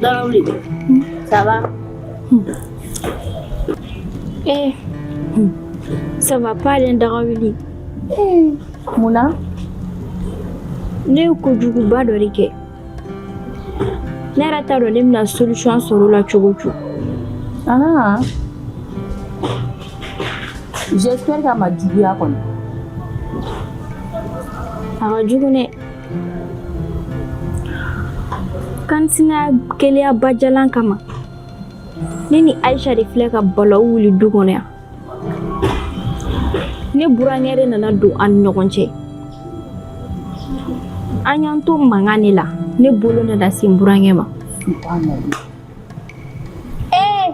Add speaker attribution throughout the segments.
Speaker 1: Dagawuli.
Speaker 2: Ça va? Eh, ça va pas aller Dagawuli. Eh,
Speaker 1: Mun
Speaker 2: na? Ne ye kojuguba dɔ de kɛ ne yɛrɛ t'a dɔn ne bɛna solution sɔrɔ o la cogo o cogo
Speaker 1: Ah. J'espère k'a ma juguya kɔni.
Speaker 2: a ka jugu dɛ Ka sinaya keleya bajalan kama ne ni Aisha de filɛ ka balawu wuli du kɔnɔ yan ne burankɛ de nana don an ni ɲɔgɔn cɛ an y'an to mankan de la ne bolo nana se n burankɛ ma ee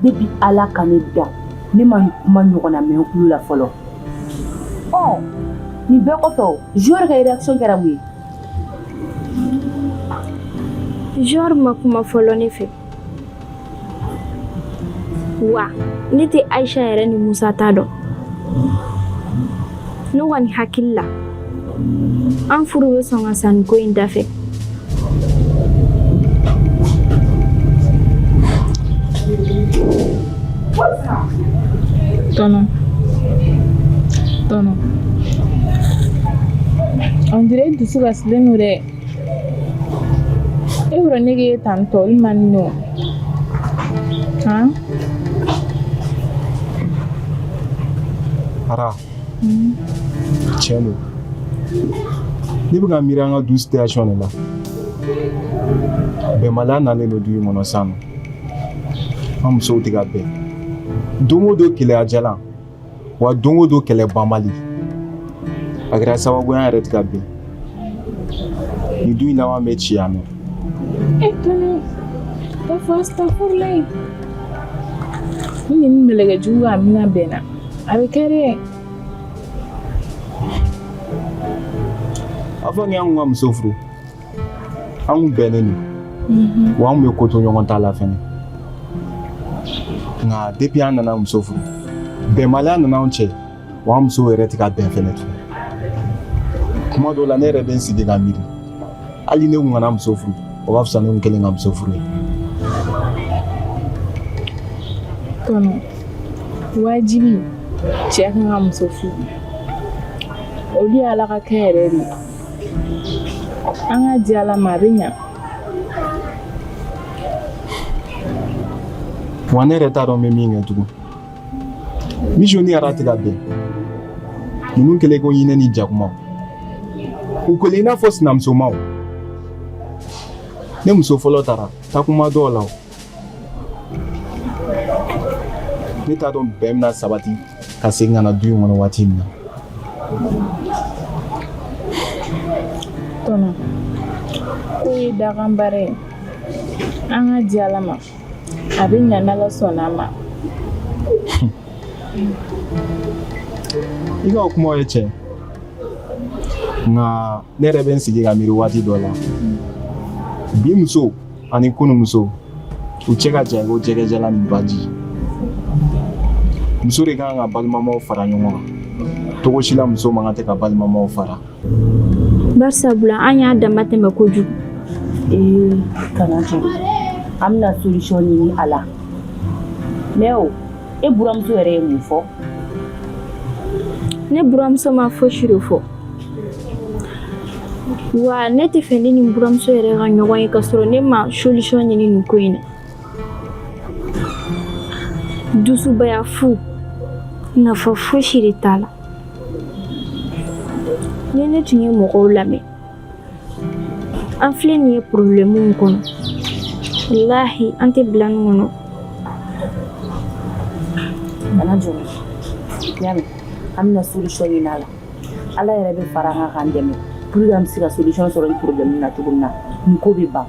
Speaker 1: depuis ala ka ne da ne ma nin kuma ɲɔgɔn na mɛn kulo la fɔlɔ ɔ nin bɛɛ kɔfɛ o jɔri ka réaction kɛra mun ye
Speaker 2: Jɔri ma kuma fɔlɔ ne fɛ wa ne tɛ Aisha yɛrɛ ni Musa ta dɔn ne kɔni hakili la an furu bɛ sɔn ka sa nin ko in
Speaker 3: dafɛ tɔnɔ on dirait i dusu kasilen don dɛ E yɔrɔ nege ye tan tɔ i man
Speaker 4: nɔ ara tiɲɛ don ne bɛ ka miiri an ka du situation de la bɛnbaliya nalen don du in kɔnɔ sisan nɔ an musow tɛ ka bɛn don o don keleya jalan wa don o don kɛlɛ banbali a kɛra sababu ye an yɛrɛ tɛ ka bɛn nin du in laban bɛ ci yan nɔ e tɔnɔ
Speaker 3: ka fɔ asitafurula ye ni nin mɛlɛkɛ jugu ka amiina bɛnna a bɛ kɛ dɛ
Speaker 4: avant ni an kun ka muso furu an kun bɛnnen don mhm. wa an kun bɛ ko to ɲɔgɔn ta la fɛnɛ nka depuis an nana muso furu bɛnbaliya nana anw cɛ wa an musow yɛrɛ tɛ ka bɛn fɛnɛ tun kuma dɔw la ne yɛrɛ bɛ n sigi ka miiri hali ne kun kana muso furu o b'a fisa ne kun kɛlen ka muso furu
Speaker 3: ye tɔnɔ wajibi cɛ kan ka muso furu olu ye ala ka kɛ yɛrɛ de ye An ka di Ala ma a bɛ
Speaker 4: ɲa. Wa ne yɛrɛ t'a dɔn n bɛ min kɛ tugun. Mijo ni Ara tɛ ka bɛn. Ninnu kɛlen ko ɲinɛ ni jakumaw. U kɛlen i n'a fɔ sinamusomaw. Ne muso fɔlɔ taara tagama dɔw la o. ne t'a dɔn bɛn bɛna sabati ka segin ka na du in kɔnɔ waati min na
Speaker 3: tɔnɔ ko ye dakan baara ye an ka di ala ma a bɛ ɲa n'ala sɔnna a ma
Speaker 4: i ka o kumaw ye tiɲɛ nka ne yɛrɛ bɛ n sigi ka miiri waati dɔ la bi muso ani kunumuso u cɛ ka jan ko jɛgɛjalan ni baji muso de ka kan ka balimamaw fara ɲɔgɔn kan cogo si la muso man kan tɛ ka balimamaw fara
Speaker 2: barisabula an y'a damatɛmɛ kojugu
Speaker 1: ee kana jɔrɔ an bɛna solution ɲini a la mais e buramuso yɛrɛ ye mun fɔ
Speaker 2: ne buramuso ma fosi de fɔ wa ne tɛ fɛ ne ni buramuso yɛrɛ ka ɲɔgɔn ye ka sɔrɔ ne ma solution ɲini nin ko in na dusubaya fu nafa fosi de t'a la ni ne tun ye mɔgɔw lamɛn an filɛ nin ye problème min kɔnɔ walahi an tɛ bila nin kɔnɔ
Speaker 1: kana jɔrɔ y'a mɛn an bɛna solution ɲini a la ala yɛrɛ bɛ fara an kan k'an dɛmɛ pour que an bɛ se ka solution sɔrɔ nin problème na cogo min na nin ko bɛ ban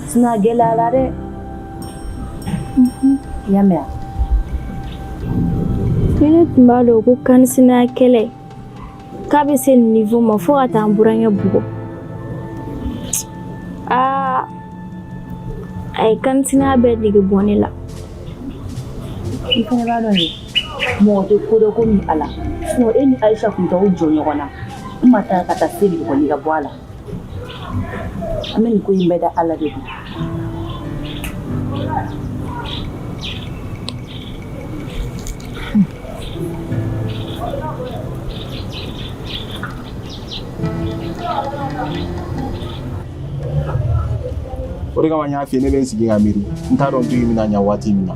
Speaker 1: sinon a gɛlɛyara dɛ i y'a mɛn
Speaker 2: ni ne tun b'a dɔn ko kansinaya kɛlɛ k'a bɛ se nin niveau ma fo ka taa an burankɛ bugɔ aa a ye kansinaya bɛɛ nege bɔ ne la
Speaker 1: i fana b'a dɔn de mɔgɔ tɛ ko dɔn komi ala sinon e ni ayisa tun t'aw jɔ ɲɔgɔn na n ma taa ka taa se bugɔli ka bɔ a la an bɛ nin ko in bɛɛ da ala de kun
Speaker 4: o de kama n y'a f'i ye ne bɛ n sigi ka miiri n t'a dɔn du in bɛna ɲa waati min na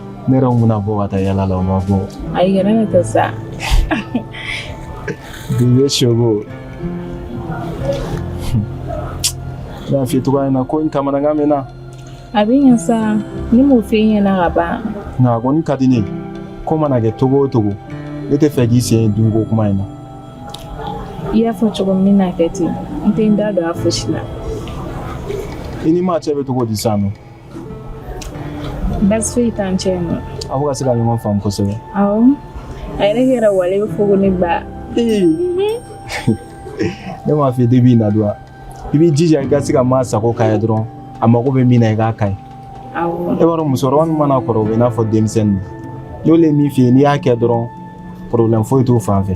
Speaker 3: ne yɛrɛ mun na bɔ
Speaker 4: ka taa yala la o ma bɔ ayi kana ne ta sa bi ye sogo ne y'a f'i ye cogoya min na ko in kamanagan bɛ n na a bɛ ɲɛ sa
Speaker 3: ne m'o f'i ɲɛna ka ban nka a kɔni ka
Speaker 4: di ne ye ko mana kɛ cogo o cogo ne tɛ fɛ k'i sen dun ko kuma in
Speaker 3: na i y'a fɔ cogo min na kɛ ten n tɛ n da don a fosi la
Speaker 4: i ni maa cɛ bɛ cogo di sisan nɔ
Speaker 3: baasi foyi t'an cɛ yen nɔ aw ka se ka ɲɔgɔn
Speaker 4: faamu kosɛbɛ
Speaker 3: awɔ a yɛrɛ kɛra wale bɛ fɔ ko ne ba
Speaker 4: ne m'a f'i ye depuis i na don i b'i jija i ka se ka maa sago k'a ye dɔrɔn a mago bɛ min na i k'a k'a ye awɔ e
Speaker 3: b'a dɔn musokɔrɔba min
Speaker 4: mana kɔrɔ o bɛ i n'a fɔ denmisɛnnin n'olu ye min f'i ye n'i y'a kɛ dɔrɔn porobilɛmu foyi t'o fan fɛ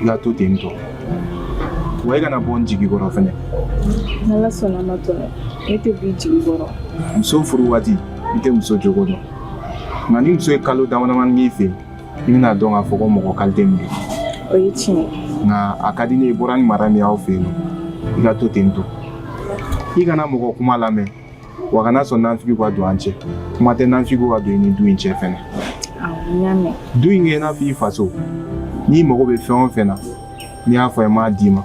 Speaker 4: i ka to ten tɔ wa i kana bɔ n jigi kɔrɔ fɛnɛ
Speaker 3: n'ala sɔnna ma tɔnɔ ne tɛ b'i jigi kɔrɔ muso furu waati
Speaker 4: i tɛ muso jogo dɔn nka ni muso ye kalo damadamani k'i fɛ i bɛna dɔn k'a fɔ ko mɔgɔ kalite min don o ye tiɲɛ
Speaker 3: ye nka a ka di ne ye
Speaker 4: i bɔra ni mara min y'aw fɛ yen nɔ i ka to ten tɔ i kana mɔgɔ kuma lamɛn wa kana sɔn nanfigi ka don an cɛ kuma tɛ nanfigi ka don i ni du in cɛ
Speaker 3: fɛnɛ du in kɛ i n'a fɔ i
Speaker 4: faso n'i mago bɛ fɛn o fɛn na n'i y'a fɔ i m'a d'i ma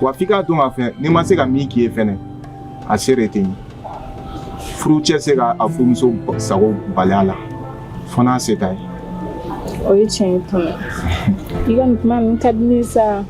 Speaker 4: wa f'i k'a dɔn k'a fɔ ni n ma se ka min k'i ye fɛnɛ a se de tɛ n ye furu cɛ se ka a furumuso sago bali a la fo n'a se t'a ye o ye
Speaker 3: tiɲɛ ye tɔnɔ i ka nin kuma ninnu ka di ne ye sa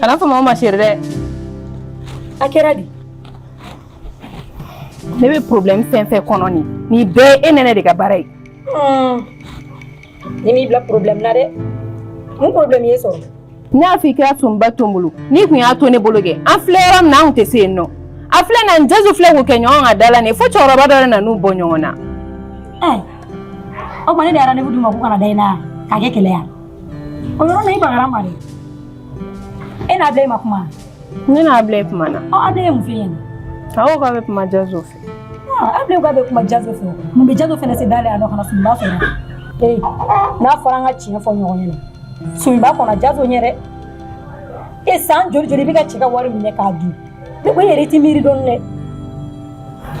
Speaker 5: kana fɔ ma ko ma chérie dɛ a kɛra di ne bɛ problème fɛn fɛn kɔnɔ nin nin bɛɛ ye e nɛnɛ de ka baara ye ne m'i bila problème na dɛ mun problème y'e sɔrɔ ne y'a fɔ i ka sunba to n bolo n'i tun y'a to ne bolo kɛ an filɛ yɔrɔ min na an tun tɛ se yen nɔ a filɛ n'a ni jazo filɛ k'u kɛ ɲɔgɔn kan da la nin fo cɛkɔrɔba dɔ de nan'u bɔ ɲɔgɔn na o tuma ne de ye rendez-vous d'u ma k'u kana da i la k'a kɛ kɛlɛ ye O yɔrɔ na i bagara n ma dɛ e n'abulayi ma kuma ne n'abulayi kumana ɔ abulayi ye mun f'i ɲɛna a ko k'a bɛ kuma jazo fɛ abulayi k'a bɛ kuma jazo fɛ mun bɛ jazo fɛnɛ se da la yan nɔ ka na sunba fɛ ee n'a fɔra an ka tiɲɛ fɔ ɲɔgɔn ɲɛna sunba kɔnɔ jazo ɲɛ dɛ e san joli joli i bɛ ka cɛ ka wari minɛ k'a dun ne ko e yɛrɛ tɛ miiri dɔɔni dɛ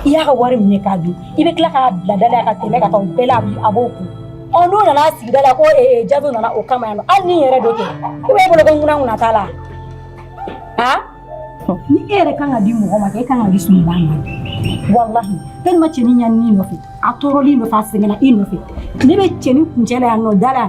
Speaker 5: i y'a ka wari minɛ k'a dun i bɛ tila k'a bila da la ka tɛmɛ ka taa o bɛɛ la a b'o kun ɔ n'o nana sigida la ko jazo nana o kama yan nɔ hali ni yɛrɛ don kɛ ko e bolo ko ŋuna ŋuna t'a la aa ni e yɛrɛ kan ka di mɔgɔ ma kɛ e kan ka di sunba ma walahi tellement cɛnin ɲanina i nɔfɛ a tɔɔrɔla i nɔfɛ a sɛgɛnna i nɔfɛ ne bɛ cɛnin kuncɛ la yan nɔ da la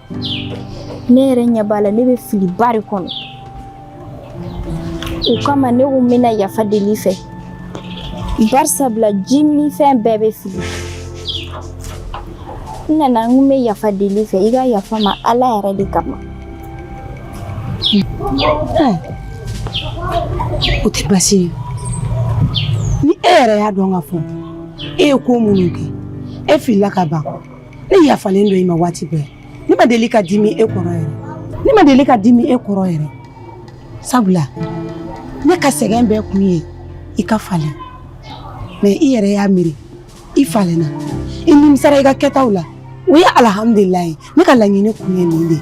Speaker 2: ne yɛrɛ ɲɛ b'a la ne bɛ filiba de kɔnɔ o kama ne ko n bɛna yafa deli i fɛ barisa bila ji ni fɛn bɛɛ bɛ fili n nana n ko n bɛ yafa deli i fɛ i ka yafa n ma ala yɛrɛ de
Speaker 6: kama o tɛ baasi ye ni e yɛrɛ y'a dɔn ka fɔ e ye ko minnu kɛ e filila ka ban ne yafalen don i ma waati bɛɛ ne ma deli ka dimi e kɔrɔ yɛrɛ ne ma deli ka dimi e kɔrɔ yɛrɛ sabula ne ka sɛgɛn bɛɛ kun ye i ka falen mais i yɛrɛ y'a miiri i falenna i nimisara i ka kɛtaw la o ye alihamudulilayi ne ka laɲini kun ye nin de ye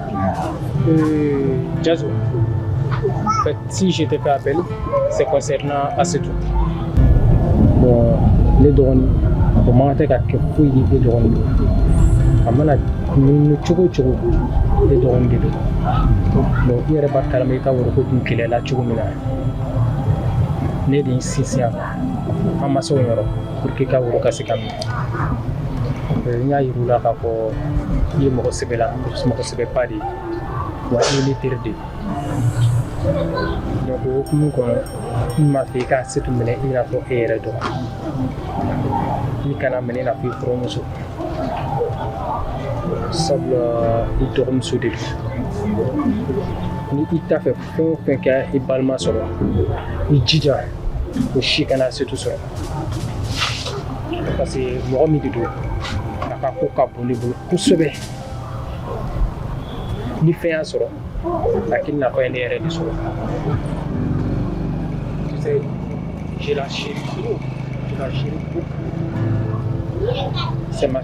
Speaker 3: Jazo, euh, si je t'ai fait appel, c'est concernant Asetou. Bon, ne dɔgɔ, bon, moi, je suis fouillé ne dɔgɔ. A mana nunu cogo o cogo ne dɔgɔ de don bon i yɛrɛ b'a kalama i ka woro ko dun kɛlɛla cogo min na ne de y'i sinsin a kan an masaw yɔrɔ pour que i ka woro ka se ka minɛ n y'a yir'u la k'a fɔ i ye mɔgɔ sɛbɛ la mɔgɔ sɛbɛba de ye wa i ye n teri de ye donc o hukumu kɔnɔ n m'a fɛ i ka setu minɛ i n'a fɔ e yɛrɛ dɔgɔ i kan'a minɛ i n'a fɔ i furumuso sabula i dɔgɔmuso de don ni i t'a fɛ fɛn o fɛn ka i balima sɔrɔ i jija o si kana setu sɔrɔ parce que mɔgɔ min de don a ka ko ka bon ne bolo kosɛbɛ ni fɛn y'a sɔrɔ a k'i n'a fɔ a ye ne yɛrɛ de sɔrɔ je la chéris, je la chéris beaucoup. C'est ma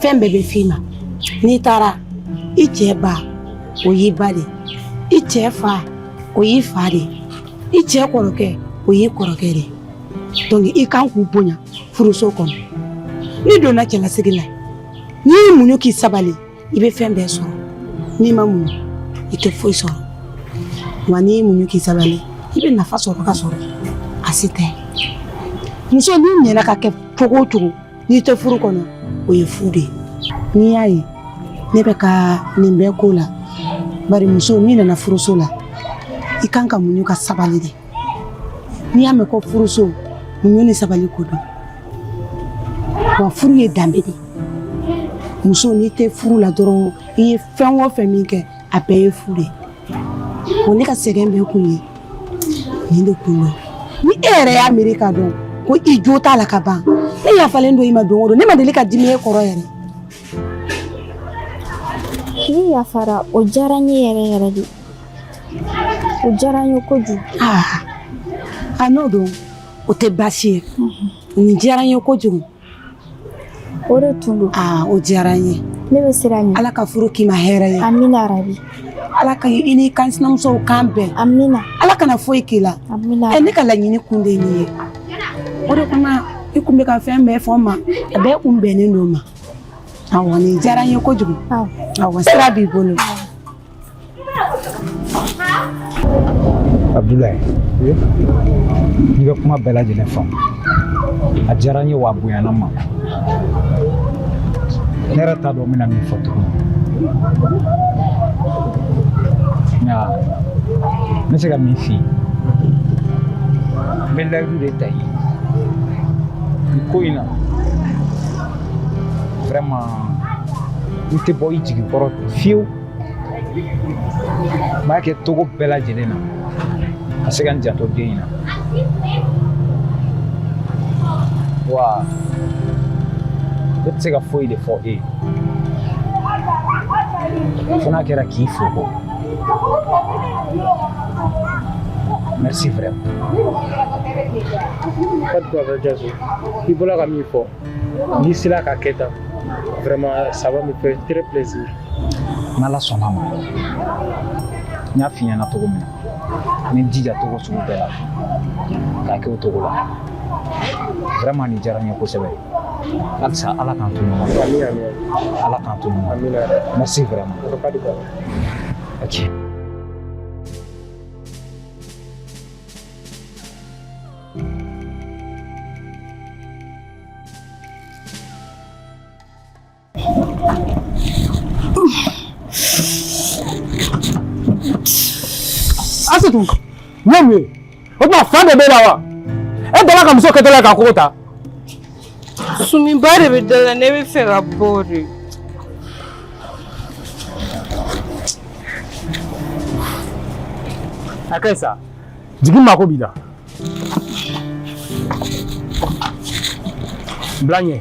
Speaker 6: fɛn bɛɛ bɛ f'i ma n'i taara i cɛ ba o y'i ba de i cɛ fa o y'i fa de i cɛ kɔrɔkɛ o y'i kɔrɔkɛ de donc i kan k'u bonya furuso kɔnɔ n'i donna cɛlasigi la n'i y'i muɲu k'i sabali i bɛ fɛn bɛɛ sɔrɔ n'i ma muɲu i tɛ foyi sɔrɔ wa n'i y'i muɲu k'i sabali i bɛ nafa sɔrɔ ka sɔrɔ asetu muso n'i ɲɛna ka kɛ cogo o cogo n'i tɛ furu kɔnɔ o ye fu de ye n'i y'a ye ne bɛ ka nin bɛɛ ko la bari muso n'i nana furuso la i kan ka muɲu ka sabali de n'i y'a mɛn ko furuso muɲu ni sabali ko don wa furu ye danbe de ye muso n'i tɛ furu la dɔrɔn i ye fɛn o fɛn min kɛ a bɛɛ ye fu de ye ne ka sɛgɛn bɛɛ kun ye nin de kun don ni e yɛrɛ y'a miiri k'a dɔn ko i jo t'a la ka ban ne yafalen don i ma don o don ne ma deli ka dimi e kɔrɔ yɛrɛ
Speaker 2: n'i yafara o diyara n ye yɛrɛ yɛrɛ de o diyara n ye kojugu
Speaker 6: a n'o don o tɛ baasi ye nin diyara n ye kojugu
Speaker 2: o de tun don aa o diyara n
Speaker 6: ye ne bɛ sira ɲini ala
Speaker 2: ka furu k'i ma
Speaker 6: hɛrɛ ye amina yarabi
Speaker 2: ala ka i
Speaker 6: n'i ka sinamusow kan bɛn amina ala kana
Speaker 2: foyi k'i la
Speaker 6: amina ɛ ne ka
Speaker 2: laɲini kun
Speaker 6: de ye nin ye o de kama i kun bɛ ka fɛn bɛɛ fɔ n ma a bɛɛ kun bɛnnen don n ma awɔ nin diyara n ye kojugu awɔ sira b'i bolo
Speaker 7: Abdoulaye n y'i ka kuma bɛɛ lajɛlen faamu a diyara n ye wa a bonyana n ma ne yɛrɛ t'a dɔn n bɛna min fɔ tuguni nka n bɛ se ka min f'i ye n bɛ layidu de ta i ye nin ko in na vraiment n tɛ bɔ i jigi kɔrɔ fiyewu n b'a kɛ cogo bɛɛ lajɛlen na ka se ka n janto den in na wa ne tɛ se ka foyi de fɔ e ye fo n'a kɛra k'i fo ko merci vraiment
Speaker 8: pas de quoi frère Diasso i bɔla ka min fɔ n'i sera k'a kɛ tan vraiment ça va me faire très plaisir
Speaker 7: n'ala sɔnna ma n y'a f'i ɲɛna cogo min na n bɛ n jija cogo sugu bɛɛ la k'a kɛ o cogo la vraiment nin diyara n ye kosɛbɛ halisa ala k'an to ɲɔgɔn na ala k'an to ɲɔgɔn na merci vraiment ok
Speaker 8: Asetu n y'a mɛn o tuma fa de b'e la wa e dala ka muso kɛtɔla ka kogo ta
Speaker 9: Sumi ba de bɛ da la ne bɛ fɛ ka bɔ
Speaker 8: dɛ. A ka ɲi sa jigin n mako b'i la. Bila ɲɛ.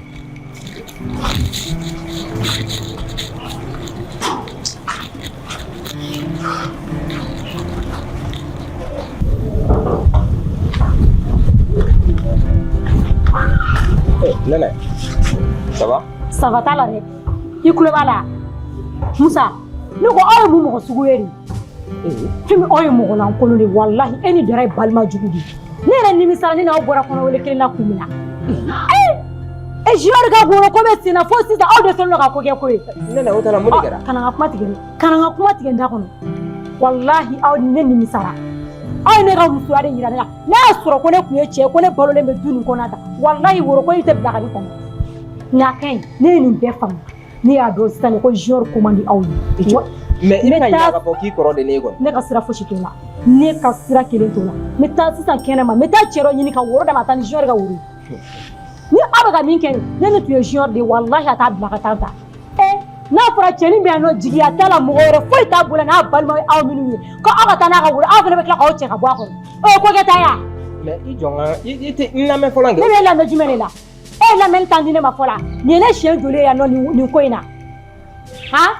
Speaker 10: Nɛnɛ, ça va? Ça va t'a la dɛ.
Speaker 5: I kulo b'a la. Musa, ne ko aw ye mun mɔgɔ sugu ye nin? Fɛmi aw ye mɔgɔ lankolon de ye walahi e ni Dara ye balima jugu de ye. Ne yɛrɛ nimisara ne n'aw bɔra kɔnɔwele kelen na kun min na. Ee! e junior ka goro ko bɛ senna fo sisan aw de sɔnna ka ko kɛ ko ye nɛnɛ o tana mun de
Speaker 10: kɛra kana n ka kuma tigɛ dɛ
Speaker 5: kana n ka kuma tigɛ n da kɔnɔ walahi aw ni ne nimisara aw ye ne ka musoya de yira ne la n'a y'a sɔrɔ ko ne tun ye cɛ ye ko ne balolen bɛ du nin kɔnɔ tan walahi woro ko in tɛ bila ka ne kɔnɔ nka a ka ɲi ne ye nin bɛɛ faamu ne y'a dɔn sisan ko junior ko man di aw ye mais i bɛ
Speaker 10: ka ɲinɛ k'a fɔ k'i kɔrɔ de ne ye kɔni ne ka sira fosi t'o la
Speaker 5: ne ka sira kelen t'o la n bɛ taa sisan kɛnɛma n bɛ taa cɛ dɔ ɲini ka woro d'a ma a ka taa ni junior ka woro ye ni aw bɛ ka min kɛ nin ni ne tun ye junior de ye walahi a t'a bila ka taa tan ee n'a fɔra cɛnin bɛ yan nɔ jigiya t'a la mɔgɔ wɛrɛ foyi t'a bolo n'a balima ye aw minnu ye ko aw ka taa n'a ka woro aw fana bɛ tila k'aw cɛ ka bɔ a kɔrɔ o ye ko kɛta ye wa mais i jɔ
Speaker 10: n ka i i tɛ n lamɛn fɔlɔ kɛ ne bɛ lamɛn jumɛn de
Speaker 5: la e ye lamɛnni tan di ne ma fɔlɔ nin ye ne siɲɛ joli ye yan nɔ nin nin ko in na han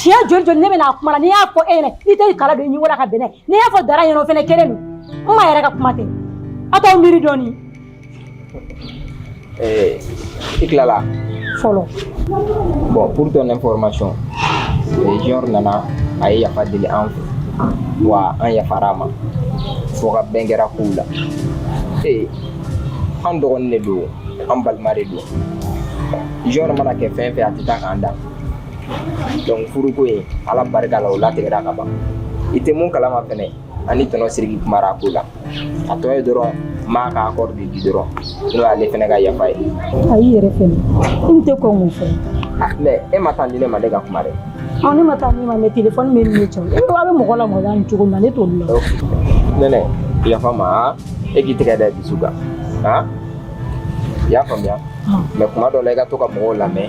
Speaker 5: siɲɛ joli joli ne bɛna kuma la n'i y'a fɔ e ɲɛna n'i tɛ kala don i ɲɛkɔrɔ ka bɛn n'a ye n'i y'a fɔ dara ɲɛna o fana kelen don n ma yɛrɛ ka kuma tɛ a t'aw miiri dɔɔni.
Speaker 10: Eh, i tilala. fɔlɔ. bon pour ton information junior nana a ye yafa deli an fɛ wa an yafara a ma fo ka bɛn kɛra kow la ee eh, an dɔgɔnin de don an balima de don junior mana kɛ fɛn fɛn a tɛ taa k'an dan. donc furuko in ala barika la o latigɛra ka ban i tɛ mun kalama fɛnɛ ani tonton siriki kumara ko la a tɔ ye dɔrɔn ma ka accord de di dɔrɔn n'o y'ale fɛnɛ ka yafa ye a y'i yɛrɛ fɛnɛ
Speaker 5: i n tɛ kɔn k'o fɔ mais e
Speaker 10: ma tan di ne ma ne ka kuma dɛ ɔ ne ma tan di i
Speaker 5: ma mais telefɔni bɛ ne cɛ e a bɛ mɔgɔ la mɔgɔ la nin cogo min na ne t'olu la
Speaker 10: nɛnɛ yafa n ma e k'i tɛgɛ da dusu kan i y'a faamuya mais kuma dɔ la i ka to ka mɔgɔw lamɛn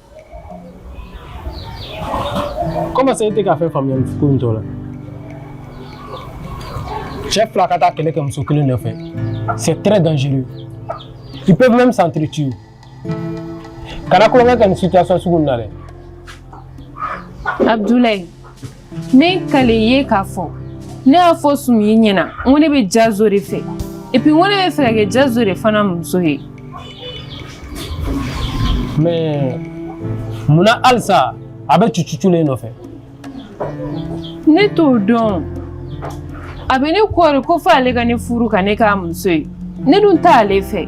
Speaker 8: Comment ça e tɛ ka fɛn faamuya nin ko in tɔ la cɛ fila ka taa kɛlɛ kɛ muso kelen nɔfɛ c'est très dangereux ils peuvent même s'entretuer kana kulonkɛ kɛ nin situation sugu nin na dɛ
Speaker 9: Abdoulaye ne kalen ye k'a fɔ ne y'a fɔ sumu ɲɛna n ko ne bɛ jazo de fɛ et puis n ko ne bɛ fɛ ka kɛ jazo de fana muso ye
Speaker 8: mais munna halisa a bɛ cucucu ne
Speaker 9: nɔfɛ ne t'o dɔn a bɛ ne kɔɔri ko fo ale ka ne furu ka ne k'a muso ye ne dun t'ale fɛ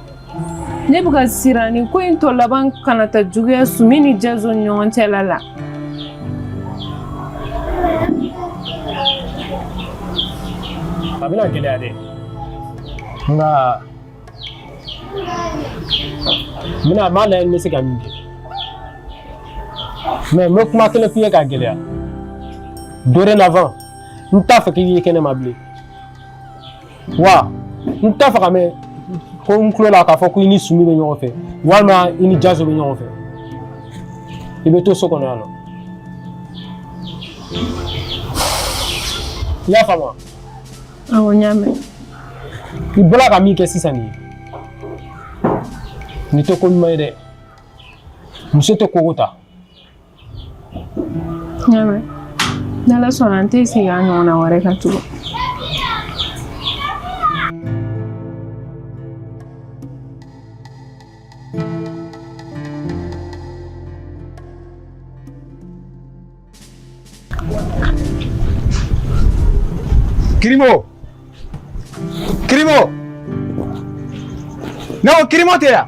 Speaker 9: ne bɛ ka siran nin ko in tɔ laban kana taa juguya sumi ni jazo ni ɲɔgɔn cɛla
Speaker 8: la a bɛna gɛlɛya dɛ nka n b'a lajɛ n bɛ se ka min kɛ mais n bɛ kuma kelen f'i ye k'a gɛlɛya dorénavant n t'a fɛ k'i ye kɛnɛma bilen wa n t'a fɛ k'a mɛn ko n tulo la k'a fɔ ko i ni sumi bɛ ɲɔgɔn fɛ walima i ni jazo bɛ ɲɔgɔn fɛ i bɛ to so kɔnɔ yan nɔ i y'a faamu wa awɔ
Speaker 9: n y'a mɛn
Speaker 8: i bɔra ka min kɛ sisan nin ye nin tɛ ko ɲuman ye dɛ muso tɛ kogo ta
Speaker 9: N y'a mɛn n'ala sɔnna n tɛ segin a ɲɔgɔnna wɛrɛ kan
Speaker 4: tugun Kirimo! Kirimo! Non, Kirimo tɛ yan!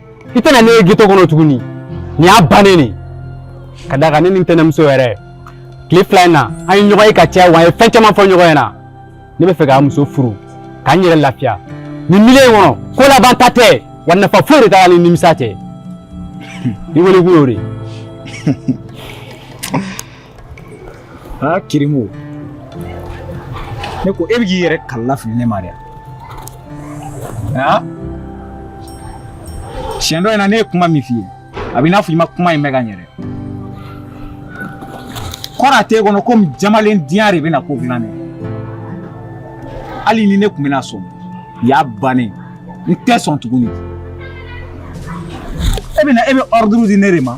Speaker 7: i tɛna ne ye ghetto kɔnɔ tuguni nin y'a bannen ne ka d'a kan ne ni n tɛnɛmuso yɛrɛ tile fila in na an ye ɲɔgɔn ye ka caya wa an ye fɛn caman fɔ ɲɔgɔn ɲɛna ne bɛ fɛ ka muso furu ka n yɛrɛ lafiya nin milieu in kɔnɔ ko labanta tɛ wa nafa foyi de t'a la ni nimisa tɛ i wele kun y'o de ye
Speaker 4: aa kirimu ne ko e bɛ k'i yɛrɛ kalila fili ne ma dɛ aa siɲɛ dɔ in na ne ye kuma min f'i ye a b'i n'a fɔ i ma kuma in mɛn ka ɲɛ dɛ kɔrɔ a t'e kɔnɔ komi jamalen diya de bɛna ko dilan dɛ hali ni ne tun bɛna sɔn y'a bannen n tɛ sɔn tuguni e bɛna e bɛ ordre di ne de ma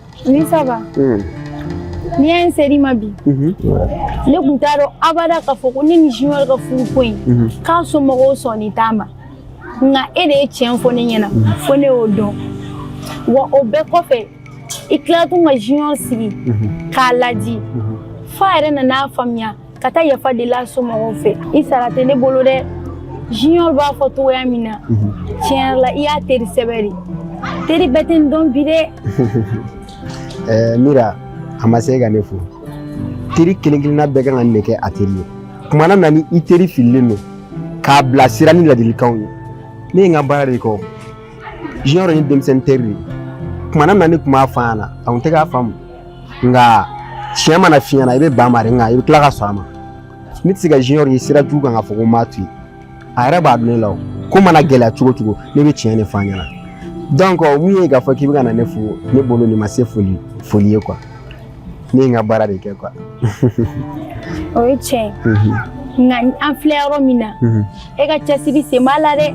Speaker 11: Oui ça
Speaker 2: va n'i y'a ye chérie ma vie mhm. ne tun t'a dɔn abada k'a fɔ ko ne ni junior ka furu ko in mhm. k'a somɔgɔw sɔnnen t'a ma nka e de ye tiɲɛ fɔ ne ɲɛna mhm. fo ne y'o dɔn wa o bɛɛ kɔfɛ i tila tun ka junior sigi k'a ladi f'a yɛrɛ nan'a faamuya ka taa yafa deli a somɔgɔw fɛ i sara tɛ ne bolo dɛ junior b'a fɔ cogoya min na tiɲɛ yɛrɛ la i y'a teri sɛbɛ de teri bɛɛ tɛ n dɔn bi dɛ eh,
Speaker 11: mira a ma se ka ne fo teri kelen kelenna bɛɛ kan ka nin de kɛ a teri ye kumana min na ni i teri fililen don k'a bilasira ni ladilikanw ye ne ye n ka baara de kɛ junior ye denmisɛnnin teri de ye kumana min na ne tun b'a fɔ a ɲɛna a tun tɛ k'a faamu nka tiɲɛ mana f'i ɲɛna i bɛ ban ma de nka i bɛ tila ka sɔn a ma ne tɛ se ka junior ye sira jugu kan k'a fɔ ko n b'a to yen a yɛrɛ b'a dɔn ne la o ko mana gɛlɛya cogo cogo ne bɛ tiɲɛ de fɔ a ɲɛna donc mun ye k'a fɔ k'i bɛ ka na ne fo ne bolo nin ma se foli ye quoi ne ye n ka baara de kɛ
Speaker 2: quoi o ye tiɲɛ ye nka an filɛ yɔrɔ min na e ka cɛsiri sen b'a la dɛ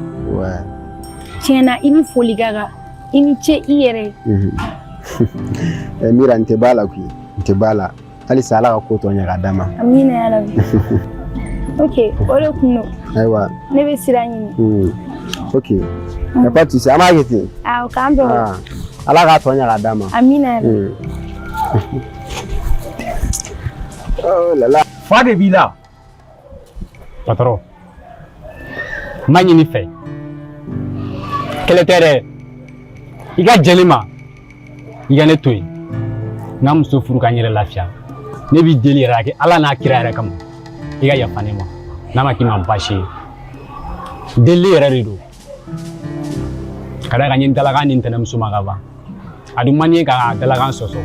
Speaker 11: tiɲɛ na
Speaker 2: i ni foli ka kan i ni ce i yɛrɛ
Speaker 11: ye mira n tɛ b'a la koyi n tɛ b'a la halisa ala ka ko tɔ ɲɛ ka d'a ma amina ya rabi
Speaker 2: ok o de kun don ayiwa ne bɛ
Speaker 11: sira ɲini ok y a pas de souci an b'a kɛ ten awɔ k'an
Speaker 2: bɛn
Speaker 11: ala k'a tɔ ɲɛ ka d'a ma amina ya rabi oh la la fa de b'i la
Speaker 7: patron n b'a ɲini i fɛ kɛlɛ tɛ dɛ i ka jɛn ne ma i ka ne to yen n ka muso furu ka n yɛrɛ lafiya ne b'i deli yɛrɛ a kɛ ala n'a kira yɛrɛ kama i ka yafa ne ma n'a ma k'i ma baasi ye delili yɛrɛ de don ka d'a kan n ye n dalakan di n tɛnɛmuso ma ka ban a dun man di n ye ka dalakan sɔsɔ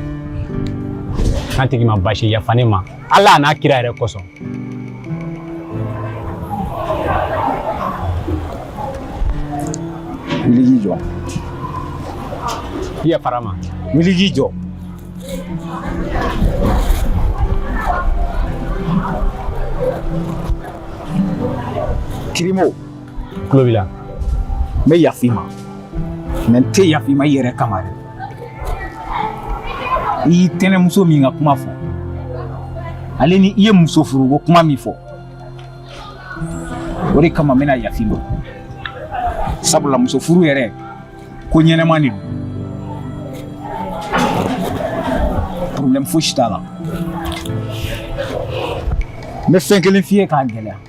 Speaker 7: n'a tɛ k'i ma baasi ye yafa ne ma ala n'a kira yɛrɛ kosɔn wuli k'i jɔ n yafara i ma wuli k'i jɔ kirimo Culot b'i la. N bɛ yafa i ma mais n tɛ yafa i ma i yɛrɛ kama dɛ i y'i tɛnɛmuso min ka kuma fɔ ale ni i ye muso furu ko kuma min fɔ o de kama n bɛna yafa i ma sabula muso furu yɛrɛ ko ɲɛnama de don problème fosi t'a la n bɛ fɛn kelen f'i ye k'a gɛlɛya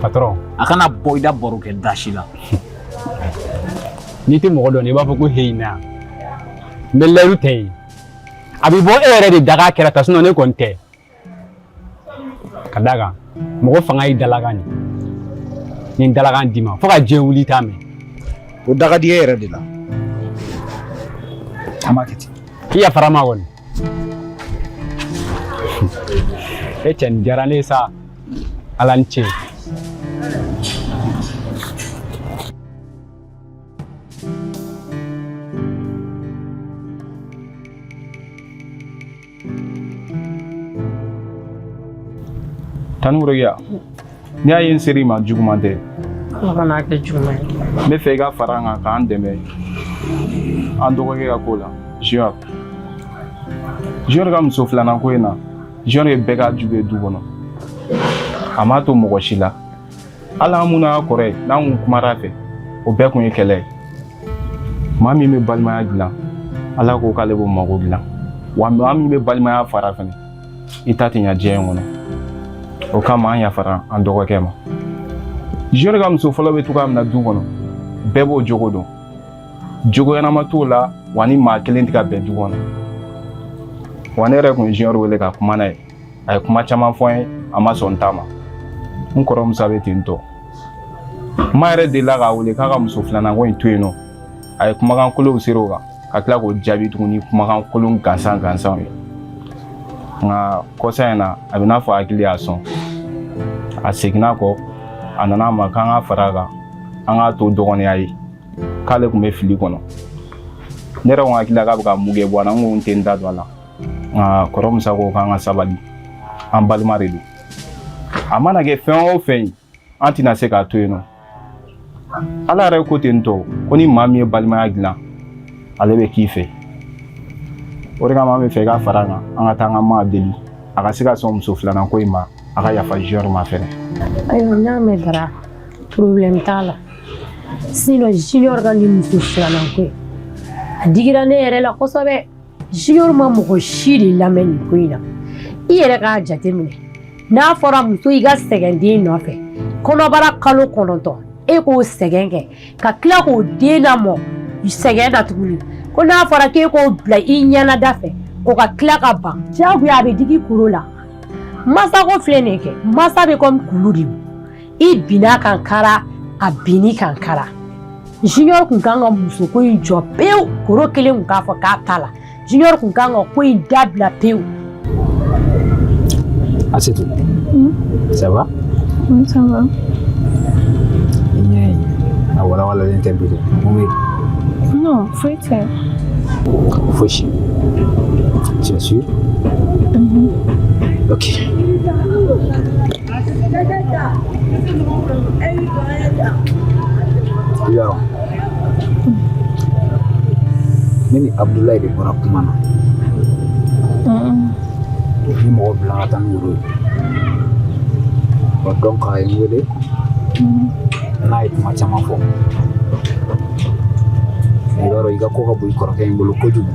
Speaker 7: patron a kana bɔ i da baro kɛ da si la n'i tɛ mɔgɔ dɔn i b'a fɔ ko heyina n bɛ layidu ta i ye a bɛ bɔ e yɛrɛ de daga kɛra ta ne kɔni tɛ ka d'a kan mɔgɔ fanga y'i dalakan de ni dalakan d'i ma fo ka diɲɛ wuli t'a mɛn o de ka di n yɛrɛ de la an b'a kɛ ten n yafara i ma kɔni e cɛ nin diyara ne ye sa ala ni ce
Speaker 4: tanukoroya n'i y'a ye n ser'i ma juguman tɛ ala kana a
Speaker 12: kɛ juguman ye n bɛ fɛ i ka fara
Speaker 4: an kan k'an dɛmɛ an dɔgɔkɛ ka ko la junior junior ka muso filanan ko in na junior ye bɛɛ k'a jugu ye du kɔnɔ a m'a to mɔgɔ si la hali an minnu y'a kɔrɔ ye n'an kun kumara a fɛ o bɛɛ kun ye kɛlɛ ye maa min bɛ balimaya dilan ala ko k'ale b'o mago dilan wa maa min bɛ balimaya fara fɛnɛ i ta tɛ ɲa diɲɛ in kɔnɔ o kama an yafara an dɔgɔkɛ ma junior ka muso fɔlɔ bɛ cogoya min na du kɔnɔ bɛɛ b'o jogo dɔn jogo ɲɛnama t'o la wa ni maa kelen tɛ ka bɛn du kɔnɔ wa ne yɛrɛ kun ye junior wele ka kuma n'a ye a ye kuma caman fɔ n ye a ma sɔn n ta ma n kɔrɔ musa bɛ ten tɔ n ma yɛrɛ delila k'a wele k'a ka muso filanan ko in to yen nɔ a ye kumakan kolonw seri o kan ka tila k'o jaabi tuguni kumakan kolon gansan gansanw ye nka kɔsa in na a bɛ n'a fɔ hakili y'a sɔn a seginna kɔ a nana a ma k'an ka fara a kan an k'a to dɔgɔninya ye k'ale kun bɛ fili kɔnɔ ne yɛrɛ ko hakili la k'a bɛ ka mun kɛ bɔ a la n ko n tɛ n da don a la nka kɔrɔ musa ko k'an ka sabali an balima de don a mana kɛ fɛn o fɛn ye an tɛna se k'a to yen nɔ ala yɛrɛ ko ten tɔ ko ni maa min ye balimaya dilan ale bɛ k'i fɛ o de kama an bɛ fɛ i ka fara an kan an ka taa an ka maa deli a ka se ka sɔn muso filanan ko in ma a ka yafa junior ma fɛnɛ ayiwa
Speaker 5: n'a mɛn dara problème t'a la sinon junior ka nin muso filanan ko in a digira ne yɛrɛ la kosɛbɛ Junior ma mɔgɔ si de lamɛn nin ko in na i yɛrɛ k'a jate minɛ n'a fɔra muso i ka sɛgɛn den nɔfɛ kɔnɔbara kalo kɔnɔntɔn e k'o sɛgɛn kɛ ka tila k'o den lamɔ sɛgɛn na tuguni ko n'a fɔra k'e k'o bila i ɲɛnada fɛ o ka tila ka ban diyagoya a bɛ digi koro la mansa ko filɛ nin ye kɛ mansa bɛ kɔmi kulu de i binn'a kan kara a binn'i kan kara junior kun kan ka musoko in jɔ pewu koro kelen kun k'a fɔ k'a t'a la junior kun kan ka ko in dabila pewu
Speaker 7: Asetu, hmm? ça va? Oui, ça
Speaker 2: va. I ɲɛ
Speaker 7: ye a walawalalen tɛ bi dɛ mun bɛ
Speaker 2: yen? Non, foyi
Speaker 7: tɛ. Fosi. Tu es sûr? Mhm. Ok. ne ni abudulayi de bɔra kuma na n ye mɔgɔ bila ka taa ni woro ye donc a ye n wele n'a ye kuma caman fɔ i b'a dɔn i ka ko ka bon i kɔrɔkɛ in bolo kojugu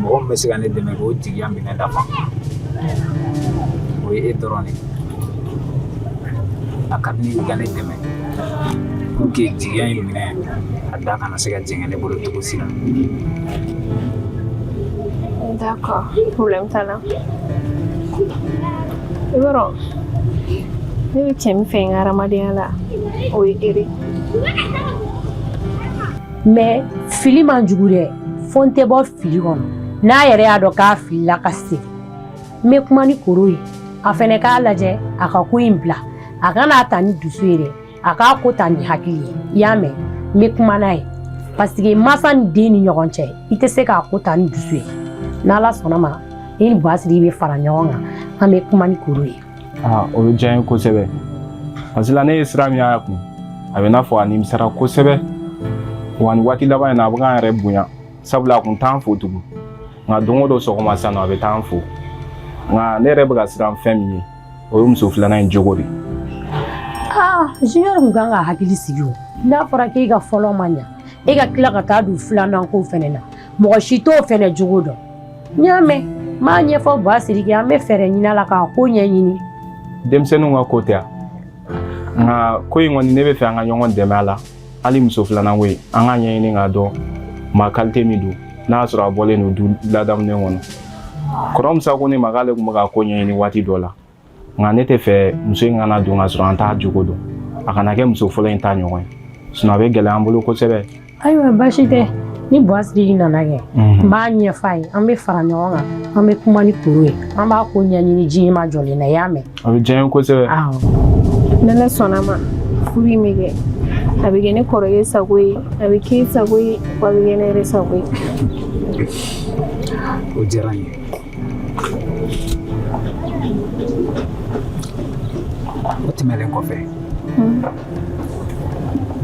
Speaker 7: mɔgɔ min bɛ se ka ne dɛmɛ k'o jigiya minɛ dafa o ye e dɔrɔn de ye a ka di ne ye i ka ne dɛmɛ pour que jigiya in minɛ a da kana se ka jɛngɛ ne bolo cogo si la
Speaker 2: D'accord, problème t'a la. I b'a dɔn ne bɛ cɛ min fɛ n ka hadamadenya la o ye ere
Speaker 5: mais fili man jugu dɛ fo n tɛ bɔ fili kɔnɔ n'a yɛrɛ y'a dɔn k'a filila ka segin n bɛ kuma ni koro ye a fɛnɛ k'a lajɛ a ka ko in bila a kana ta ni dusu ye dɛ a k'a ko ta ni hakili ye i y'a mɛn n bɛ kuma n'a ye parce que masa ni den ni ɲɔgɔn cɛ i tɛ se k'a ko ta ni dusu ye n'ala sɔnna ma i ni buwa siriki bɛ fara ɲɔgɔn kan an bɛ kuma ni koro ye Aa o bɛ diya n
Speaker 4: ye kosɛbɛ parce que là ne ye sira min y'a kun a bɛ n'a fɔ a nimisara kosɛbɛ wa nin waati laban in na a bɛ k'an yɛrɛ bonya sabula a kun t'an fo tugun nka don o don sɔgɔma san nɔ a bɛ t'an fo nka ne yɛrɛ bɛ ka siran fɛn min ye o ye muso filanan in jogo de ye
Speaker 5: aa junior kun kan ka hakili sigi o n'a fɔra k'e ka fɔlɔ ma ɲa e ka tila ka taa don filanan ko fɛnɛ na mɔgɔ si t'o fɛnɛ jogo dɔn n y'a mɛn n b'a ɲɛfɔ buwa siriki ye an bɛ fɛɛrɛ ɲini a la k'a ko ɲɛɲini denmisɛnninw ka
Speaker 4: ko tɛ yan nka ko in kɔni ne bɛ fɛ an ka ɲɔgɔn dɛmɛ a la hali muso filanan ko in an k'a ɲɛɲini k'a dɔn maa qualité min don n'a y'a sɔrɔ a bɔlen don du ladamunen kɔnɔ kɔrɔ musa ko ne ma k'ale tun bɛ k'a ko ɲɛɲini waati dɔ la nka ne tɛ fɛ muso in kana don ka sɔrɔ an t'a jogo dɔn a kana kɛ muso fɔlɔ in ta ɲɔgɔn ye sinon a bɛ gɛlɛya an bolo kosɛbɛ ayiwa baasi tɛ
Speaker 5: ni buwa siriki nana kɛ n b'a ɲɛfɔ a ye an bɛ fara ɲɔgɔn kan an bɛ kuma ni koro ye an b'a ko ɲɛɲini ji ma jɔlen na i y'a mɛn a bɛ diya n ye
Speaker 4: kosɛbɛ
Speaker 2: n'ala sɔnna ma furu in bɛ kɛ a bɛ kɛ ne kɔrɔkɛ sago ye a bɛ k'e sago ye wa a bɛ kɛ ne yɛrɛ sago ye
Speaker 7: o diyara n ye O tɛmɛnlen kɔfɛ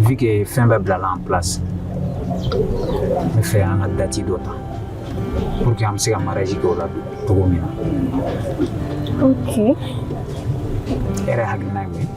Speaker 7: vu que fɛn bɛɛ bilala en place n bɛ fɛ an ka date dɔ ta pour que an bɛ se ka mariage kɛ o la cogo min na
Speaker 2: ok e
Speaker 7: yɛrɛ hakilina ye mun ye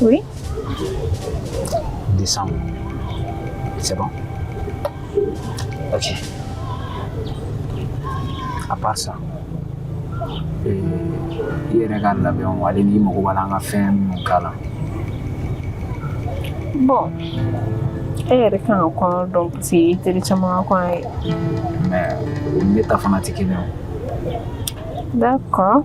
Speaker 7: Oui. Décembre. C'est bon Ok. À part ça, euh, i yɛrɛ ka labɛnw ale n'i mago b'a la an ka fɛn minnu k'a
Speaker 9: la Bon. E yɛrɛ kan ka kɔɲɔ dɔn parce que i teri caman ka kɔɲɔ ye. mais
Speaker 7: o ni ne ta fana tɛ kelen ye D'accord.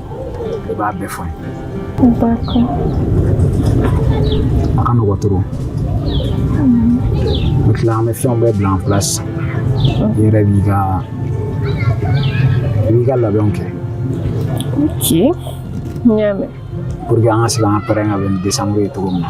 Speaker 7: i b'a bɛɛ fɔ n ye a ka nɔgɔn trop n tila an bɛ fɛnw bɛɛ bila en place i yɛrɛ b'i ka i b'i ka labɛnw kɛ ok
Speaker 9: n y'a mɛn pour que an ka se
Speaker 7: k'an ka prêt ka bɛn ni décembre ye cogo min na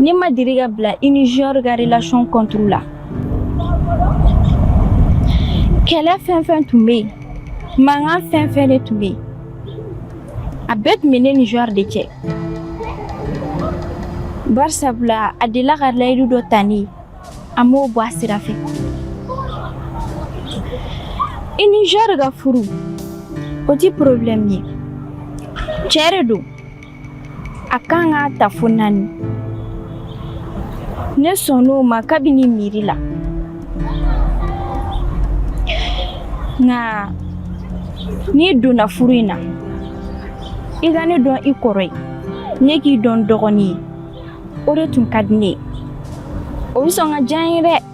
Speaker 2: Ne ma deli ka bila i ni Junior ka relation contre la kɛlɛ fɛn fɛn tun bɛ yen mankan fɛn fɛn de tun bɛ yen a bɛɛ tun bɛ ne ni Junior de cɛ barisabula a delila ka layidu dɔ ta ne ye a m'o bɔ a sira fɛ i ni Junior ka furu o ti problème ye cɛ de don A kan k'a ta fo naani ne sɔnn'o ma kabini miiri la nka n'i donna furu in na i ka ne dɔn i kɔrɔ ye ne k'i dɔn dɔgɔnin ye o de tun ka di ne ye o bɛ sɔn ka diya n ye dɛ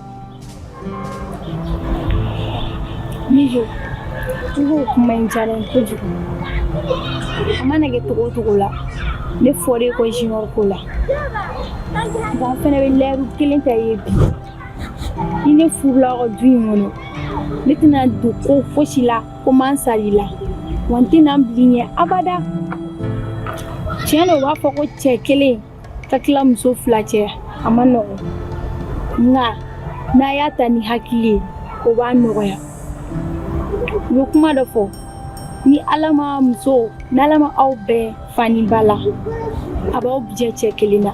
Speaker 2: Mijo, i b'o kuma in diyara n ye kojugu. A mana kɛ cogo o cogo la, ne fɔra e kɔ Junior ko la. Nka n fana bɛ layidu kelen ta i ye bi. Ni ne furula aw ka du in kɔnɔ, ne tɛna don ko fosi la ko n m'a sara i la. Wa n tɛna n bila i ɲɛ abada. Tiɲɛ don u b'a fɔ ko cɛ kelen ka tila muso fila cɛ a man nɔgɔn nka n'a y'a ta ni hakili ye o b'a nɔgɔya u bɛ kuma dɔ fɔ ni ala ma muso n'ala ma aw bɛn fa ni ba la a b'aw bɛɛ jɛ cɛ kelen na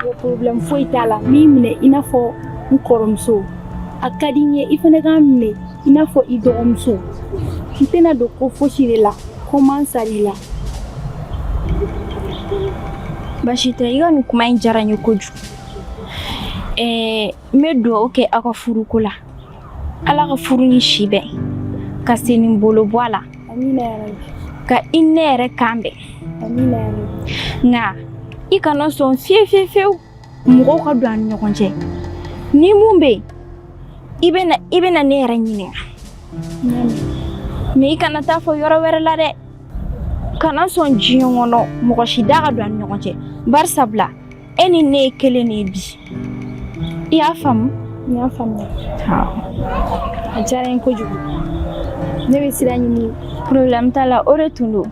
Speaker 2: o problème foyi t'a la n b'i minɛ i n'a fɔ n kɔrɔmuso a ka di n ye i fana ka n minɛ i n'a fɔ i dɔgɔmuso n tɛna don ko fosi de la ko n m'a sara i la baasi tɛ i ka nin kuma in diyara n ye kojugu ɛɛ n bɛ dugawu kɛ aw ka furuko la ala ka furu ni si bɛn ka sen ni bolo bɔ a la ka i ne yɛrɛ kan bɛn nka i kana sɔn fiye fiye fiyewu mɔgɔw ka don an ni ɲɔgɔn cɛ ni mun bɛ yen i bɛ na i bɛ na ne yɛrɛ ɲininka mais i kana taa fɔ yɔrɔ wɛrɛ la dɛ kana sɔn diɲɛ kɔnɔ mɔgɔ si da ka don an ni ɲɔgɔn cɛ barisabula e ni ne ye kelen de ye bi i y'a faamu n y'a faamuya a diyara n ye kojugu ne bɛ sira ɲini problème t'a la o de tun don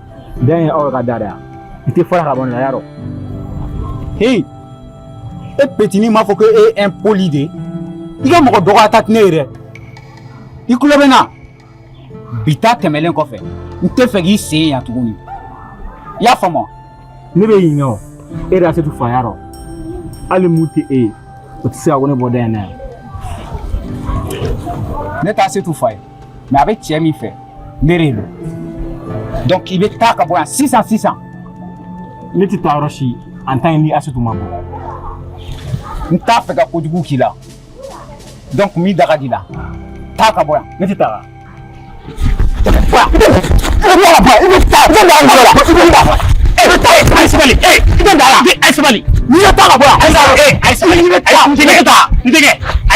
Speaker 7: Da in ye aw ka da de yan i tɛ fara ka bɔ nin na y'a dɔn heyi e petini m'a fɔ ko e ye impoli de ye i ka mɔgɔ dɔgɔya ta tɛ ne ye dɛ i tulo bɛ n na bi ta tɛmɛlen kɔfɛ n t'a fɛ k'i sen yan tuguni i y'a faamu wa ne bɛ ɲinɛ o e de y'Asetu fa y'a dɔn hali mun tɛ e ye o tɛ se ka ko ne bɔ da in na yan ne t'Asetu fa ye mais a bɛ cɛ min fɛ ne de don donc i bɛ taa ka bɔ yan sisan sisan ne tɛ taa yɔrɔ si en tant que ni Asetu ma bɔ n t'a fɛ ka kojugu k'i la donc min da ka di i la taa ka bɔ yan ne tɛ taa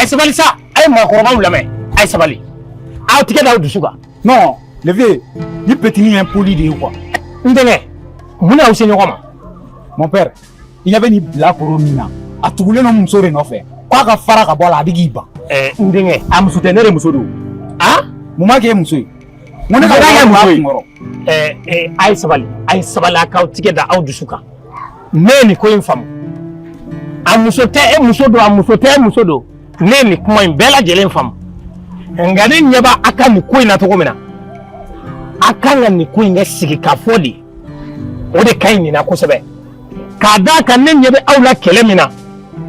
Speaker 7: a ye sabali sa a ye maakɔrɔbaw lamɛn a ye sabali aw tigɛ da aw dusu kan non le vieux nin petini ye impoli de ye quoi n denkɛ mun n'aw se ɲɔgɔn ma mon père i ɲɛ bɛ nin bilakoro min na a tugulen don n muso de nɔfɛ k'a ka fara ka bɔ a la a bɛ k'i ban ɛɛ n denkɛ a muso tɛ ne de muso don a mun b'a kɛ e muso ye n ko ne ka Mun b'a kɛ wari muso b'a ye? kunkɔrɔ ɛɛ ɛɛ a ye sabali a ye sabali a k'aw tigɛ da aw dusu kan ne ye nin ko in faamu a muso tɛ e muso don a muso tɛ e muso don ne ye nin kuma in bɛɛ lajɛlen faamu nka ne ɲɛ b'a a ka nin ko in na cogo min na a kan ka nin ko in kɛ sigi ka fɔ de o de ka ɲi nin na kosɛbɛ k'a d'a kan ne ɲɛ bɛ aw la kɛlɛ min na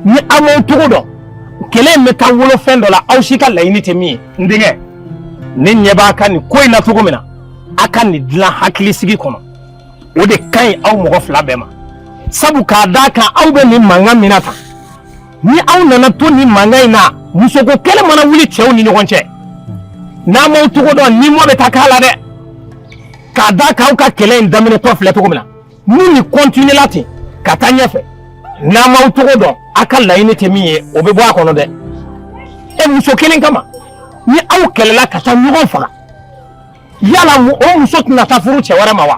Speaker 7: ni aw m'aw cogo dɔn kɛlɛ in bɛ taa wolo fɛn dɔ la aw si ka laɲini tɛ min ye n denkɛ ne ɲɛ b'a ka nin ko in na cogo min na a ka nin dilan hakilisigi kɔnɔ o de ka ɲi aw mɔgɔ fila bɛɛ ma sabu k'a d'a kan aw bɛ nin mankan min na tan ni aw nana to nin mankan in na musoko kɛlɛ mana wuli cɛw ni ɲɔgɔn cɛ n'a m'aw cogo dɔn ni mɔ bɛ taa k'a la dɛ k'a d'a kan aw ka kɛlɛ in daminɛtɔ filɛ cogo min na ni nin kɔntiniyela ten ka taa ɲɛfɛ n'a m'aw cogo dɔn a ka laɲini tɛ min ye o bɛ bɔ a kɔnɔ dɛ e muso kelen kama ni aw kɛlɛla ka taa ɲɔgɔn faga yala o muso tɛna taa furu cɛ wɛrɛ ma wa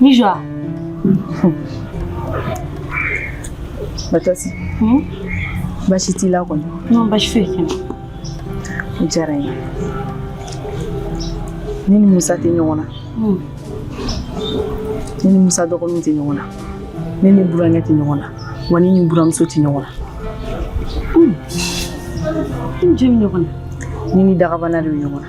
Speaker 9: Nijwa. Batasi. Hmm? Baasi t'i la kɔni. Non, baasi foyi tɛ n na. O diyara n ye. Ne ni Musa tɛ ɲɔgɔn na. Hmm. Ne ni Musa dɔgɔninw tɛ ɲɔgɔn na. Ne ni burankɛ tɛ ɲɔgɔn na. Wa ne ni buramuso tɛ ɲɔgɔn na.
Speaker 2: Hmm. Ni jɔn bɛ ɲɔgɔn na? Ne ni dagabana
Speaker 9: de bɛ ɲɔgɔn na.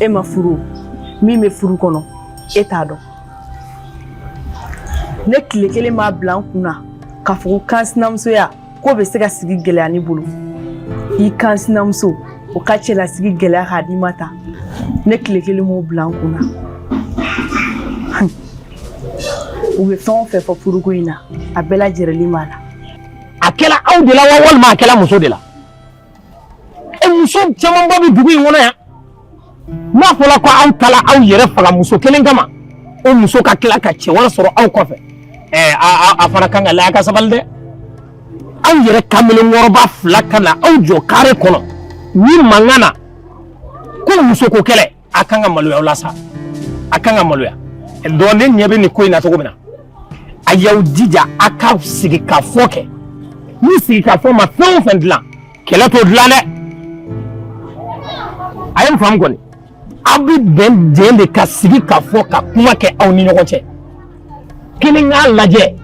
Speaker 9: e ma furu min bɛ furu kɔnɔ e t'a dɔn ne tile kelen m'a bila n kun na k'a fɔ ko kansinamusoya k'o bɛ se ka sigi gɛlɛya ne bolo i kansinamuso o ka cɛlasigi gɛlɛya k'a d'i ma tan ne tile kelen m'o bila n kun na u bɛ fɛn o fɛn fɔ furuko in na a bɛɛ lajɛrɛlen b'a la a kɛla
Speaker 7: aw de la wa walima a kɛla muso de la muso camanba bɛ dugu in kɔnɔ yan
Speaker 8: n'a fɔla ko aw taala aw yɛrɛ faga muso kelen kama o muso ka tila ka cɛ wɛrɛ sɔrɔ aw kɔfɛ ɛɛ a fana kan ka laya ka sabali dɛ aw yɛrɛ kamalen kɔrɔba fila ka na aw jɔ kare kɔnɔ ni mankan na ko muso ko kɛlɛ a kan ka maloya aw la sa a kan ka maloya donc ne ɲɛ bɛ nin ko in na cogo min na a y'aw jija a ka sigi ka fɔ kɛ ni sigi ka fɔ ma fɛn o fɛn dilan kɛlɛ t'o dilan dɛ a ye n faamu kɔni aw bɛ bɛn jɛn de ka sigi ka fɔ ka kuma kɛ aw ni ɲɔgɔn cɛ kelen k'a lajɛ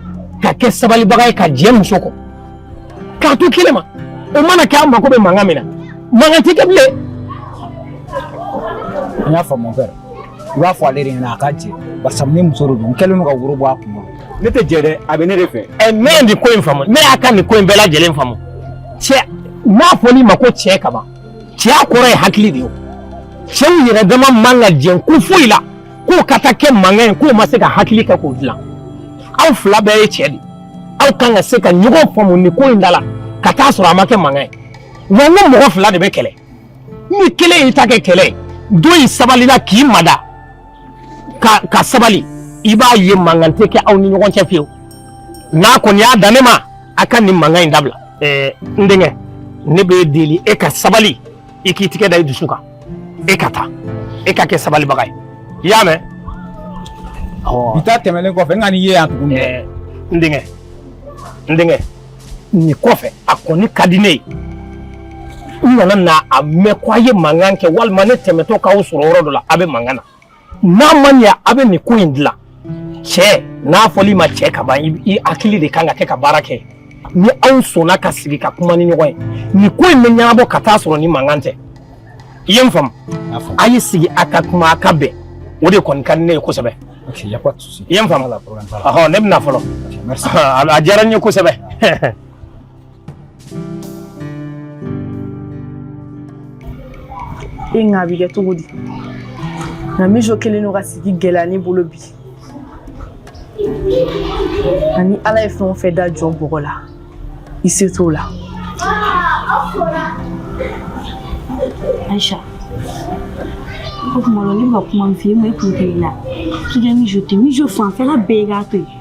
Speaker 8: ka kɛ sabalibaga ye ka jɛ muso kɔ k'a to kelen ma o mana kɛ an mako bɛ mankan min na mankan tɛ kɛ bilen
Speaker 7: an y'a faamu mon père i b'a fɔ ale de ɲɛna a ka jɛ barisa ne muso de don n kɛlen don ka woro bɔ a kun kɔrɔ ne tɛ jɛ dɛ
Speaker 8: a bɛ ne de fɛ ɛ ne ye nin ko in faamu ne y'a ka nin ko in bɛɛ lajɛlen faamu cɛ n'a fɔl'i ma ko cɛ kaban cɛya kɔrɔ ye hakili de ye o cɛw yɛrɛ dama man ka jɛ ko foyi la k'o ka taa kɛ mankan ye k'o ma se ka hakili kɛ k'o dilan aw fila bɛɛ ye cɛ de aw kan ka se ka ɲɔgɔn faamu nin ko in da la ka taa sɔrɔ a ma kɛ mankan ye wa n ko mɔgɔ fila de bɛ kɛlɛ ni kelen y'i ta kɛ kɛlɛ ye dɔ in sabalila k'i mada ka sabali i b'a ye mankan tɛ kɛ aw ni ɲɔgɔn cɛ fiyewu n'a kɔni y'a dan ne ma a ka nin mankan in dabila ɛɛ n denkɛ ne b'e deli e ka sabali i k'i tigɛ da i dusu kan e ka taa e ka kɛ sabalibaga ye i y'a
Speaker 7: mɛn bi ta tɛmɛlen kɔfɛ n kan'i ye yan tuguni n denkɛ
Speaker 8: n denkɛ nin kɔfɛ a kɔni ka di ne ye n kana na a mɛn ko a ye mankan kɛ walima ne tɛmɛtɔ k'aw sɔrɔ yɔrɔ dɔ la a bɛ mankan na n'a ma ɲɛ a bɛ nin ko in dilan cɛ n'a fɔl'i ma cɛ ka ban i hakili de kan ka kɛ ka baara kɛ ni aw sɔnna ka sigi ka kuma ni ɲɔgɔn ye nin ko in bɛ ɲɛnabɔ ka taa sɔrɔ ni mankan tɛ i ye n faamu a ye sigi a ka kuma a ka bɛn o de kɔni ka di ne ye
Speaker 7: kosɛbɛ i ye n faamu
Speaker 8: ne bɛna fɔlɔ a diyara n ye kosɛbɛ
Speaker 9: e nka a bɛ kɛ cogo di nka mijo kelen don ka sigi gɛlɛya ne bolo bi ani ala ye fɛn o fɛn da jɔn bɔgɔ la i se t'o
Speaker 5: la aisha o tuma la ne bɛ ka kuma min f'i ye ma i kun tɛ i la k'i ka mijo tɛ mijo fanfɛla bɛɛ i k'a to yen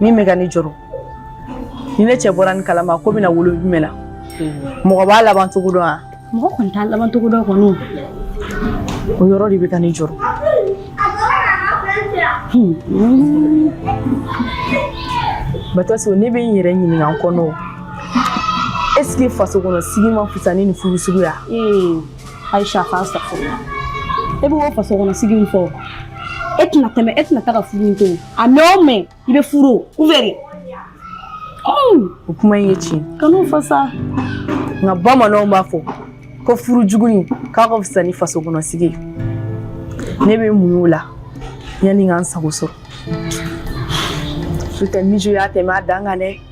Speaker 9: min bɛ ka ne jɔrɔ ni ne cɛ bɔra nin kalama ko bɛna wolo jumɛn na mɔgɔ b'a laban cogo dɔn wa mɔgɔ kɔni t'a laban cogo
Speaker 5: dɔn kɔni
Speaker 9: o yɔrɔ de bɛ ka ne jɔrɔ batɔso ne bɛ n yɛrɛ ɲininka n kɔnɔ est ce que faso kɔnɔ sigi ma fisa ni nin furu suguya
Speaker 5: Aisha k'a sago e b'o faso kɔnɔ sigi min fɔ e tɛna tɛmɛ e tɛna taga furu to a mɛn o mɛn i bɛ furu u fɛ de
Speaker 9: o kuma in ye tiɲɛ kan'o fɔ sa nka bamananw b'a fɔ ko furu jugu k'a ka fisa ni faso kɔnɔ sigi ne bɛ muɲu o la yanni n ka n sago sɔrɔ n'o tɛ mijo y'a tɛmɛ a dan kan dɛ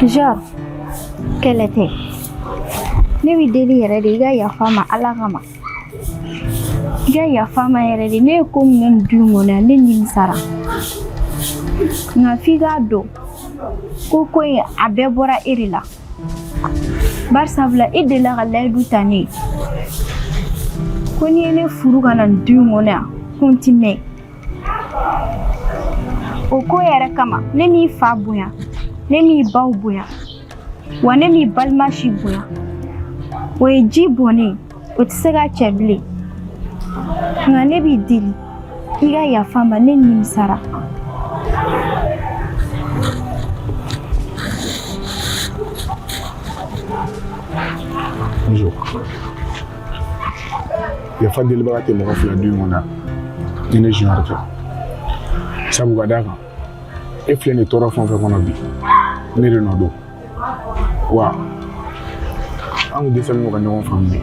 Speaker 2: Junior kɛlɛ tɛ ne b'i deli yɛrɛ de i ka yafa n ma ala kama i ka yafa n ma yɛrɛ de ne ye ko min kɛ nin du in kɔnɔ yan ne nimisara nka f'i k'a dɔn ko ko in a bɛɛ bɔra e de la bari sabula e delila ka layidu ta ne ye ko n'i ye ne furu ka na nin du in kɔnɔ yan ko n ti mɛn o ko yɛrɛ kama ne m'i fa bonya ne m'i baw bonya wa ne m'i balima si bonya o ye ji bɔnnen o tɛ se ka cɛ bilen nka ne b'i deli i ka yafa n ma ne nimisara Bonjour.
Speaker 4: yafa delibaga tɛ mɔgɔ fila du in kɔnɔ ni ne junior tɛ sabu ka d'a kan e filɛ nin tɔɔrɔ fɛn o fɛn kɔnɔ bi ne de nɔ don wa an kun dɛsɛlen don ka ɲɔgɔn faamu de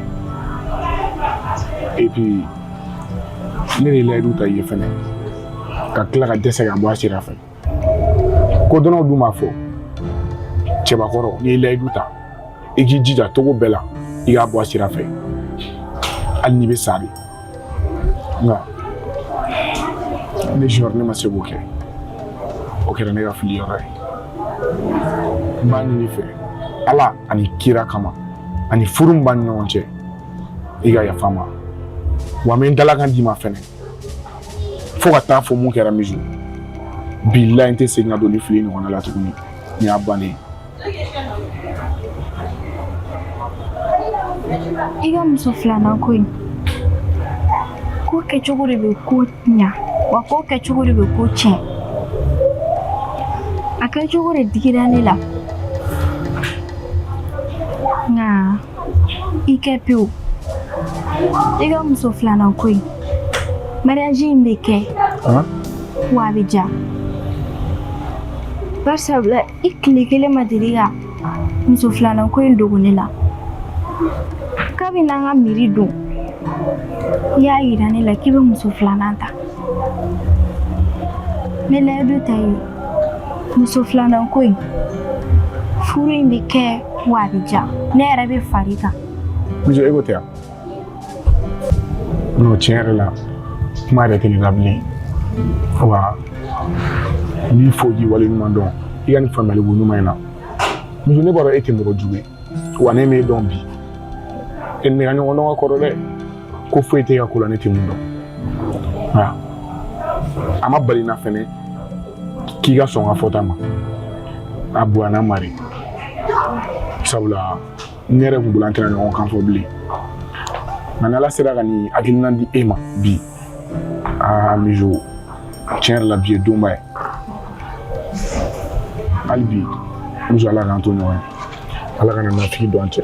Speaker 4: et puis ne de layidu ta i ye fɛnɛ ka tila ka dɛsɛ k'a bɔ a sira fɛ kodɔnnaw dun b'a fɔ cɛbakɔrɔ n'i ye layidu ta i k'i jija cogo bɛɛ la i k'a bɔ a sira fɛ hali n'i bɛ sa de nka ne junior ne ma se k'o kɛ o kɛra ne ka fili yɔrɔ ye n b'a ɲini i fɛ ala ani kira kama ani furu min b'an ni ɲɔgɔn cɛ i ka yafa n ma wa n bɛ n dalakan d'i ma fɛnɛ fo ka taa fɔ mun kɛra mizo bilayi n tɛ segin ka don nin fili ɲɔgɔnna la tuguni nin y'a bannen
Speaker 2: i ka muso filanan ko in ko kɛcogo de bɛ ko ɲa wa ko kɛcogo de bɛ ko tiɲɛ a kɛcogo de digira ne la nka i kɛ pewu i ka muso filanan ko in mariage in bɛ kɛ wa a bɛ diya bari sabula i tile kelen ma deli ka muso filanan ko in dogo ne la kabini an ka mairie don i y'a yira ne la k'i bɛ muso filanan ta n bɛ layidu ta i ye muso filanan ko in furu in bɛ kɛ wa a bɛ diya ne yɛrɛ bɛ far'i kan mizo e ko tɛ
Speaker 4: yan non tiɲɛ yɛrɛ la kuma yɛrɛ tɛ ne la bilen wa n b'i fo k'i wale ɲuman dɔn i ka nin faamuyali ko ɲuman in na mizo ne b'a dɔn e tɛ mɔgɔ jugu ye wa ne m'e dɔn bi e ni ne ka ɲɔgɔn dɔn ka kɔrɔ dɛ ko foyi t'i ka ko la ne tɛ min dɔn nka a ma bali n na fɛnɛ k'i ka sɔn n ka fɔta ma a bonyana bari sabula ne yɛrɛ kun bolo an tɛna ɲɔgɔn kan fɔ bilen nka n'ala sera ka nin hakilina di e ma bi aa mizo tiɲɛ yɛrɛ la bi ye donba ye hali bi mizo ala k'an to ɲɔgɔn ye ala kana nafigi don an cɛ